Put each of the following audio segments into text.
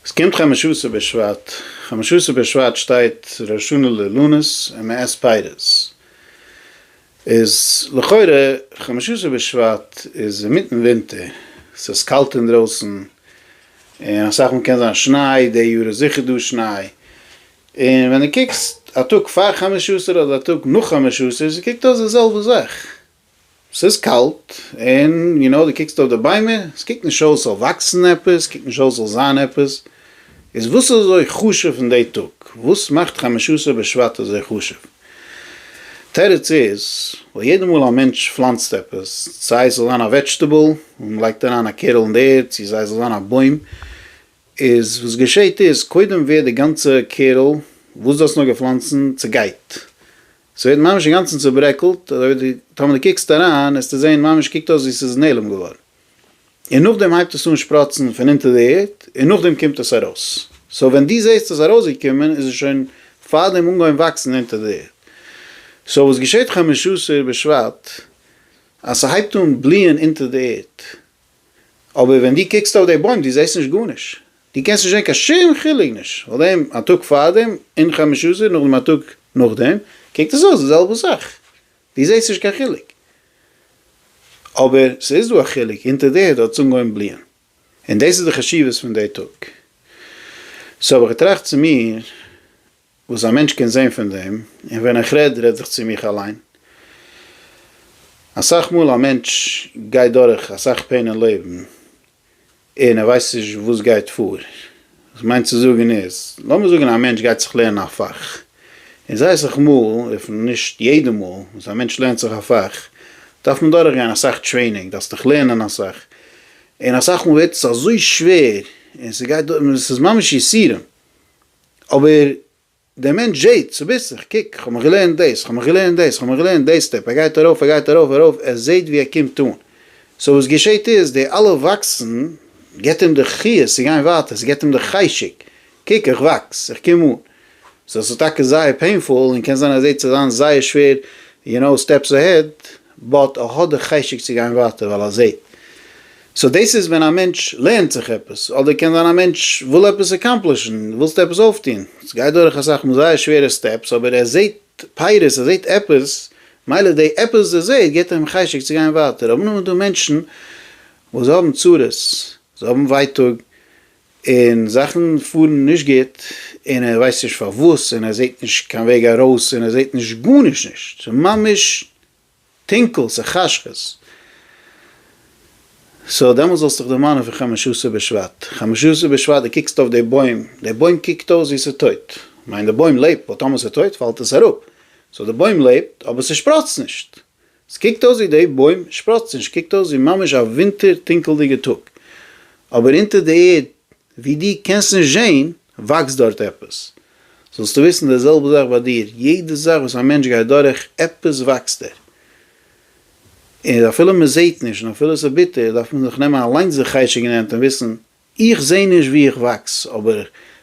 עס קומט חמשה עשר בשבט, חמשה עשר בשבט שטייט ראש השנה לאילנות און מען עסט פירות, איז לכאורה חמשה עשר בשבט איז אינמיטן ווינטער, עס איז קאלט אינדרויסן, און אסאך מאל קען זיין שניי, די יאר איז זיכער דא שניי, און ווען דו קוקסט א טאג פאר חמשה עשר אדער א טאג נאך חמשה עשר, עס קוקט אויס די זעלבע זאך, ס'איז קאלט, און יו נאו, דו קוקסט אויף די ביימער, עס קוקט נישט אויס זאל וואקסן עפעס, עס קוקט נישט אויס זאל זיין עפעס, איז וואס איז אזוי חשוב אין די טאג? וואס מאכט חמשה עשר בשבט אזוי חשוב? תירוץ איז, ווייל יעדע מאל א מענטש פלאנצט עפעס, סיי ס'זאל זיין א וועדזשטעבל, און מען לייגט אריין א קערל אין די ערד, צו סיי ס'זאל זיין א בוים, איז וואס געשעהט איז, קודם ווערט די גאנצע קערל, וואס דו האסט נאר געפלאנצן, צעגייט, ס'ווערט ממש אינגאנצן צוברעקלט, אזוי ווי די, טאמער די קוקסט אריין עסטו זעהן ממש קוקט אויס ווי ס'איז נעלם געווארן, און נאכדעם הייבט עס אן שפראצן פון אונטער די ערד, און נאכדעם קומט עס ארויס, סאו ווען דו זעהסט עס ארויסגעקומען איז עס שוין פארדעם אנגעהויבן וואקסן אונטער די ערד, סאו וואס געשעהט חמשה עשר בשבט אז ס'הייבט אן בליען אונטער די ערד, אבער ווען דו קוקסט אויף די בוים דו זעהסט נישט גארנישט, דו קענסט נישט זען קיין שום חילוק נישט פאר דעם א טאג פארדעם און חמש עשרה נאכדעם א טאג נאכדעם קוקט עס אויס די זעלבע זאך, דו זעסט נישט קיין חילוק. אבער ס'איז דא א חילוק, אונטער די הוט האט עס אנגעהויבן בליען, און דאס איז די חשיבות פון די טאג. סאו האב איך געטראכט צו מיר. וואס א מענטש קען זען פון דעם, און ווען איך רעד רעד איך צו מיך אליין. אסאך מאל א מענטש גייט דורך אסאך פעין אין לעבן, און ער ווייסט נישט וואס גייט פאר. וואס כ'מיין צו זאגן איז, לאמיר זאגן א מענטש גייט זיך לערנען א פאך, און זייער אסאך מאל, אויב נישט יעדע מאל, וואס א מענטש לערנט זיך א פאך, דארף מען דורך גיין אסאך טרעינינג, דארפסט דיך לערנען אסאך, און אסאך מאל ווערט עס אזוי שווער, און ס'גייט דורך, און עס איז ממש יסורים, אבער דער מענטש זעהט צוביסלעך, איך קוק, איך האב מיך געלערנט דאס, איך האב מיך געלערנט דאס, איך האב מיך געלערנט דעי סטעפ, ער גייט ארויף, ער גייט ארויף, ארויף, ער זעהט ווי ער קומט אן. סאו וואס געשעהט איז, די אלע וואקסן גיבט אים די חיות צו גיין ווייטער, ס'גיבט אים די חשק, קוק איך וואקס, איך קום אן. סאו ס'איז טאקע זייער פעינפול, און קען זיין אז יעצט איז זיין זייער שווער, יו נאו, סטעפס אהעד, באט ער האט די חשק צו גיין ווייטער ווייל ער זעט. סאו דאס איז ווען א מענטש לערנט זיך עפעס, אדער קען זיין א מענטש וויל עפעס אקאמפלישן, ווילסט עפעס אויפטון, עס גייט דורך אסאך מאל זייער שווערע סטעפס, אבער ער זעט פירות, ער זעט עפעס, מילא די עפעס וואס ער זעט געבט אים חשק צו גיין ווייטער. אמנם איז דא מענטשן וואס זיי האבן צרות, זיי האבן ווייטאג, און זאכן פארן נישט גוט און ער ווייסט נישט פארוואס און ער זעט נישט קיין וועג ארויס און ער זעט נישט גארנישט נישט ס'איז ממש טונקל ס'איז חשכות סאו דעמאלטס זאלסטוך דערמאנען פון חמשה עשר בשבט חמשה עשר בשבט די קוקסט אויף די בוים די בוים קוקט אויס ווי ס'איז טויט כ'מיין די בוים לעבט ווייל טאמער ס'איז טויט פאלט עס אראפ סאו די בוים לעבט אבער ס'שפראצט נישט. ס'קוקט אויס ווי די בוים שפראצט נישט, קוקט אויס ווי ממש א ווינטער טונקעלדיגע טאג, אבער אונטער די ערד ווי דו קענסט נישט זעהן וואקסט דארט עפעס, זאלסטו וויסן די זעלבע זאך ביי דיר, יעדע זאך וואס א מענטש גייט דורך עפעס וואקסט ער, און אפילו מ'זעהט נישט און אפילו ס'ביטער דארף מען זיך נעמען אליינס די חשק אין הענט און וויסן איך זעה נישט ווי איך וואקס, אבער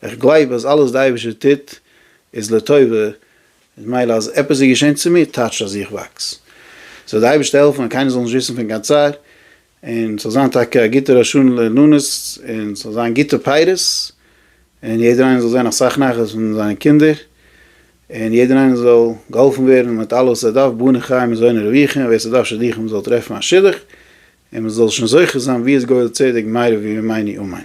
איך גלייב אז אלעס די אייבערשטער טוט איז לטובה, און מילא אז עפעס איז געשען צו מיר טייטשט אז איך וואקס. זאל די אייבערשטער העלפן אז קיינער זאל נישט וויסן פון קיין צער, און ס'זאל זיין טאקע א גוטע ראש שנה לעננות, און ס'זאל זיין גוטע פירות, און יעדער איינער זאל זען אסאך נחת פון זיינע קינדער, און יעדער איינער זאל געהאלפן ווערן מיט אלעס וואס ער דארף, בנים חיים זונות רוויחין, ווער ס'דארף שידוכים זאל טרעפן א שידוך, און מען זאל שוין זוכה זיין ווי איז גואל צדק מאיר ווי ממעיני אמיין.